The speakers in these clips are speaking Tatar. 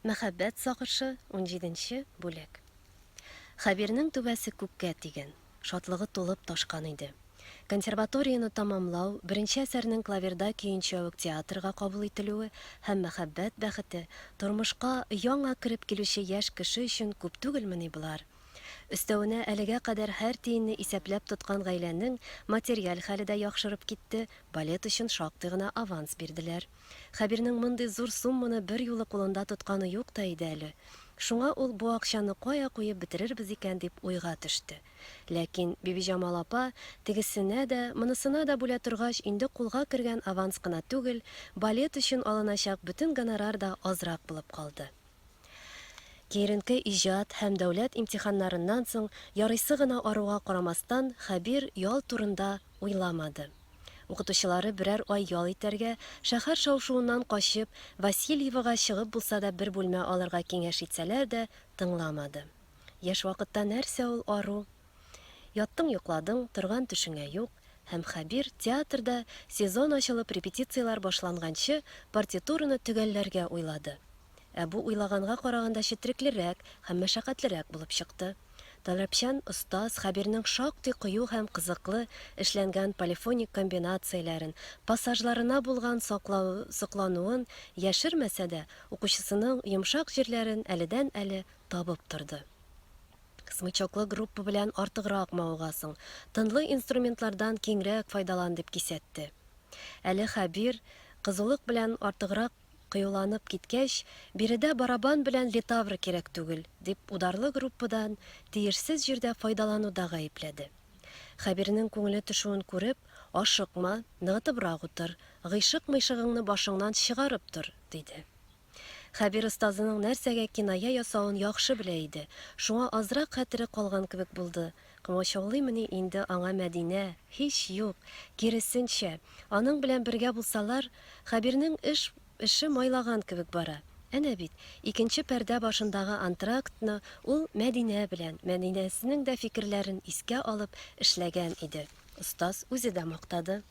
Мәхәббәт сагышы, унҗиденче бүлек Хәбирнең түбәсе күккә тигән. Шатлыгы тулып ташкан иде. Консерваторияне тәмамлау, беренче әсәрнең клаверда көенчә үк театрга кабул ителүе һәм мәхәббәт бәхете, тормышка яңа кереп килүче яшь кеше өчен күп түгелмени болар? Өстәвенә, әлегә кадәр һәр тиенне исәпләп тоткан гаиләнең материаль хәле дә яхшырып китте, балет өчен шактый гына аванс бирделәр. Хәбирнең мондый зур сумманы берьюлы кулында тотканы юк та иде әле. Шуңа ул бу акчаны кая куеп бетерербез икән дип уйга төште. Ләкин Бибиҗамал апа, тегесенә дә, монысына да бүлә торгач, инде кулга кергән аванс кына түгел, балет өчен алыначак бөтен гонорар да азрак булып калды. Киеренке иҗат һәм дәүләт имтиханнарыннан соң ярыйсы гына аруга карамастан, Хәбир ял турында уйламады. Укытучылары берәр ай ял итәргә, шәһәр шау-шуыннан качып, Васильевога чыгып булса да бер бүлмә алырга киңәш итсәләр дә, тыңламады. Яшь вакытта нәрсә ул ару? Яттың йокладың, торган төшеңә юк, һәм Хәбир театрда сезон ачылып репетицияләр башланганчы партитураны төгәлләргә уйлады. Ә бу уйлаганга караганда четреклерәк һәм мәшәкатьлерәк булып чыкты. Таләпчән остаз Хәбирнең шактый кыю һәм кызыклы эшләнгән полифоник комбинацияләрен, пассажларына булган соклануын яшермәсә дә, укучысының йомшак җирләрен әледән-әле табып торды. Смычоклы группа белән артыграк мавыгасың, тынлы инструментлардан киңрәк файдалан, дип кисәтте. Әле Хәбир, кызулык белән артыграк кыюланып киткәч, биредә барабан белән литавр кирәк түгел, дип ударлы группадан тиешсез җирдә файдалануда гаепләде. Хәбирнең күңеле төшүен күреп, Ашыкма, ныгытыбрак утыр, гыйшык-мыйшыгыңны башыңнан чыгарып тор, диде. Хәбир остазының нәрсәгә киная ясавын яхшы белә иде, шуңа азрак хәтере калган кебек булды, комачаулыймыни инде аңа Мәдинә, һич юк, киресенчә, аның белән бергә булсалар, Хәбирнең эш эше майлаган кебек бара. Әнә бит, икенче пәрдә башындагы антрактны ул Мәдинә белән, Мәдинәсенең дә фикерләрен искә алып, эшләгән иде. Остаз үзе дә мактады.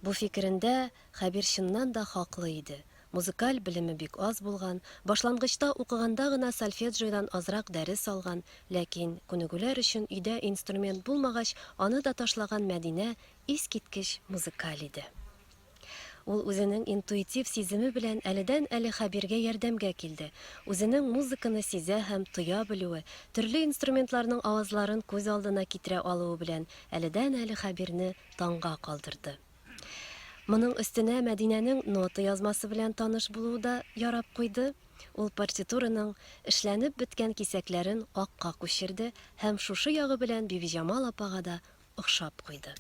Бу фикерендә Хәбир чыннан да хаклы иде. Музыкаль белеме бик аз булган, башлангычта укыганда гына сольфеджиодан азрак дәрес алган, ләкин, күнегүләр өчен өйдә инструмент булмагач, аны да ташлаган Мәдинә искиткеч музыкаль иде. Ул үзенең интуитив сиземе белән әледән-әле Хәбиргә ярдәмгә килде. Үзенең музыканы сизә һәм тоя белүе, төрле инструментларның авазларын күз алдына китерә алуы белән әледән-әле Хәбирне таңга калдырды. Моның өстенә Мәдинәнең нота язмасы белән таныш булуы да ярап куйды, ул партитураның эшләнеп беткән кисәкләрен акка күчерде һәм шушы ягы белән Бибиҗамал апага да охшап куйды.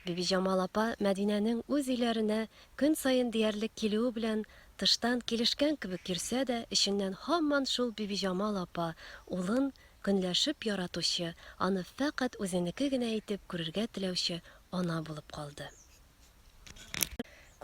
Бибиҗамал апа Мәдинәнең үз өйләренә көн саен диярлек килүе белән тыштан килешкән кебек йөрсә дә, эченнән һаман шул Бибиҗамал апа улын Көнләшеп яратучы, аны фәкать үзенеке генә итеп күрергә теләүче ана булып калды.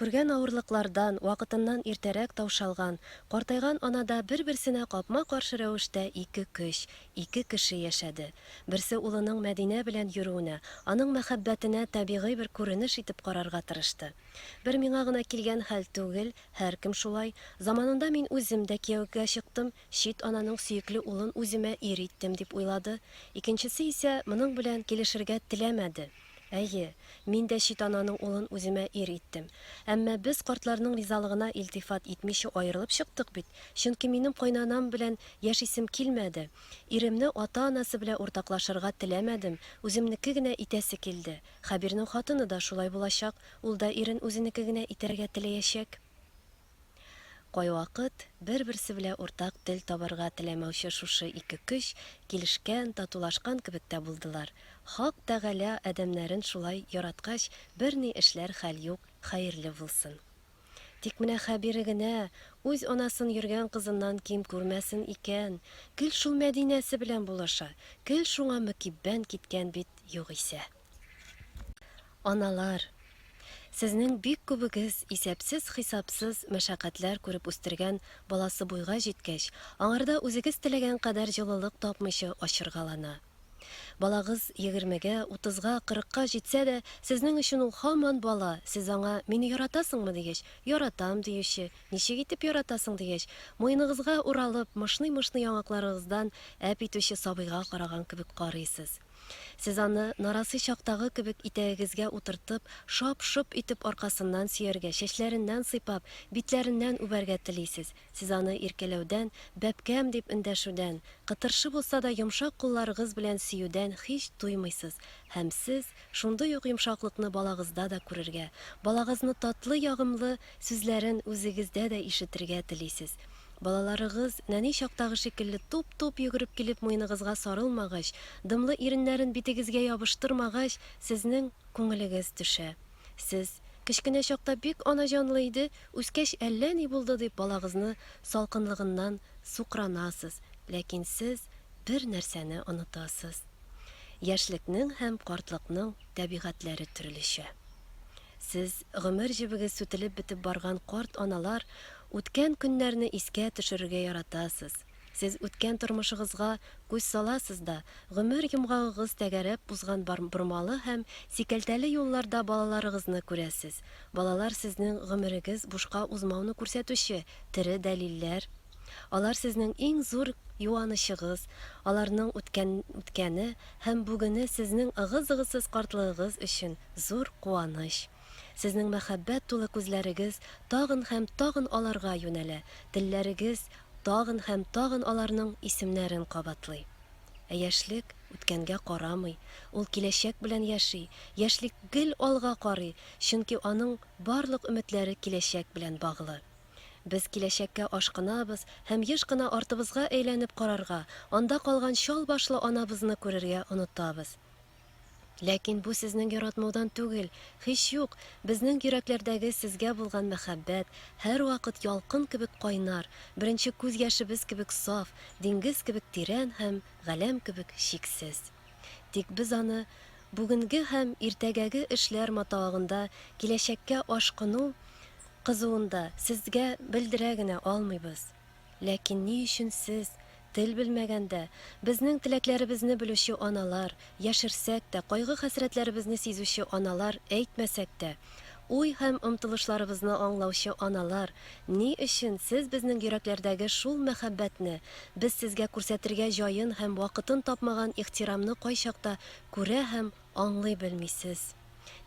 Күргән авырлыклардан, вакытыннан иртәрәк таушалган, картайган анада бер-берсенә капма-каршы рәвештә ике көч, ике кеше яшәде. Берсе улының Мәдинә белән йөрүенә, аның мәхәббәтенә табигый бер күренеш итеп карарга тырышты. Бер миңа гына килгән хәл түгел, һәркем шулай. Заманында мин үзем дә кияүгә чыктым, Чит ананың сөекле улын үземә ир иттем, дип уйлады, икенчесе исә моның белән килешергә теләмәде. Әйе, мин дә чит ананың улын үземә ир иттем. Әмма без картларның ризалыгына илтифат итмичә аерылып чыктык бит, чөнки минем кайнанам белән яшисем килмәде, иремне ата-анасы белән уртаклашырга теләмәдем, үземнеке генә итәсе килде. Хәбирнең хатыны да шулай булачак, ул да ирен үзенеке генә итәргә теләячәк. Кайвакыт бер-берсе белә уртак тел табарга теләмәүче шушы ике көч килешкән, татулашкан кебек тә булдылар. Хак Тәгалә адәмнәрен шулай яраткач, берни эшләр хәл юк, хәерле булсын. Тик менә Хәбире генә үз анасын йөргән кызыннан ким күрмәсен икән, гел шул Мәдинәсе белән булаша, гел шуңа мөкиббән киткән бит югыйсә. Аналар! Сезнең бик күбегез исәпсез-хисапсыз мәшәкатьләр күреп үстергән баласы буйга җиткәч, аңарда үзегез теләгән кадәр җылылык тапмыйча ачыргалана. Балагыз егермегә, утызга, кырыкка җитсә дә, сезнең өчен ул һаман бала, сез аңа, Мине яратасыңмы? дигәч, Яратам, диюче, Ничек итеп яратасың? дигәч, муеныгызга уралып, мышный-мышный яңакларыгыздан әп итүче сабыйга караган кебек карыйсыз. Сез аны, нарасый чактагы кебек, итәгегезгә утыртып, шап-шоп итеп аркасыннан сөяргә, чәчләреннән сыйпап, битләреннән үбәргә телисез. Сез аны иркәләүдән, бәбкәм дип эндәшүдән, кытыршы булса да йомшак кулларыгыз белән сөюдән һич туймыйсыз һәм сез шундый ук йомшаклыкны балагызда да күрергә, балагызны татлы-ягымлы сүзләрен үзегездә дә ишетергә телисез. Балаларыгыз, нәни чактагы шикелле, туп-туп йөгереп килеп муеныгызга сарылмагач, дымлы иреннәрен битегезгә ябыштырмагач, сезнең күңелегез төшә. Сез, Кечкенә чакта бик анаҗанлы иде, үскәч әллә ни булды, дип балагызны салкынлыгыннан сукранасыз, ләкин сез бер нәрсәне онытасыз. Яшьлекнең һәм картлыкның табигатьләре төрлечә. Сез, гомер җебегез сүтелеп бетеп барган карт аналар, Үткән көннәрне искә төшерергә яратасыз. Сез үткән тормышыгызга күз саласыз да, гомер йомгагыгыз тәгәрәп узган бар бормалы һәм сикәлтәле юлларда балаларыгызны күрәсез. Балалар сезнең гомерегез бушка узмауны күрсәтүче тере дәлилләр. Алар сезнең иң зур юанычыгыз, аларның үткән үткәне һәм бүгене сезнең ыгы-зыгысыз картлыгыгыз өчен зур куаныч. Сезнең мәхәббәт тулы күзләрегез тагын һәм тагын аларга юнәлә, телләрегез тагын һәм тагын аларның исемнәрен кабатлый. Ә яшьлек үткәнгә карамый, ул киләчәк белән яши, яшьлек гел алга карый, чөнки аның барлык өметләре киләчәк белән баглы. Без киләчәккә ашкынабыз һәм еш кына артыбызга әйләнеп карарга, анда калган чал башлы анабызны күрергә онытабыз. Ләкин бу сезнең яратмаудан түгел, һич юк, безнең йөрәкләрдәге сезгә булган мәхәббәт һәрвакыт ялкын кебек кайнар, беренче күз яшебез кебек саф, диңгез кебек тирән һәм галәм кебек чиксез. Тик без аны бүгенге һәм иртәгәге эшләр матавыгында киләчәккә ашкыну кызуында сезгә белдерә генә алмыйбыз. Ләкин ни өчен сез, тел белмәгәндә, безнең теләкләребезне белүче аналар, яшерсәк тә, кайгы-хәсрәтләребезне сизүче аналар, әйтмәсәк тә, уй һәм омтылышларыбызны аңлаучы аналар, ни өчен сез безнең йөрәкләрдәге шул мәхәббәтне, без сезгә күрсәтергә җаен һәм вакытын тапмаган ихтирамны кайчакта күрә һәм аңлый белмисез?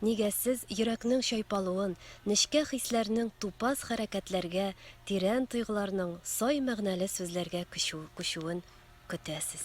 Нигә сез йөрәкнең чайпалуын, нечкә хисләрнең тупас хәрәкәтләргә, тирән тойгыларның сай мәгънәле сүзләргә күчүен көтәсез?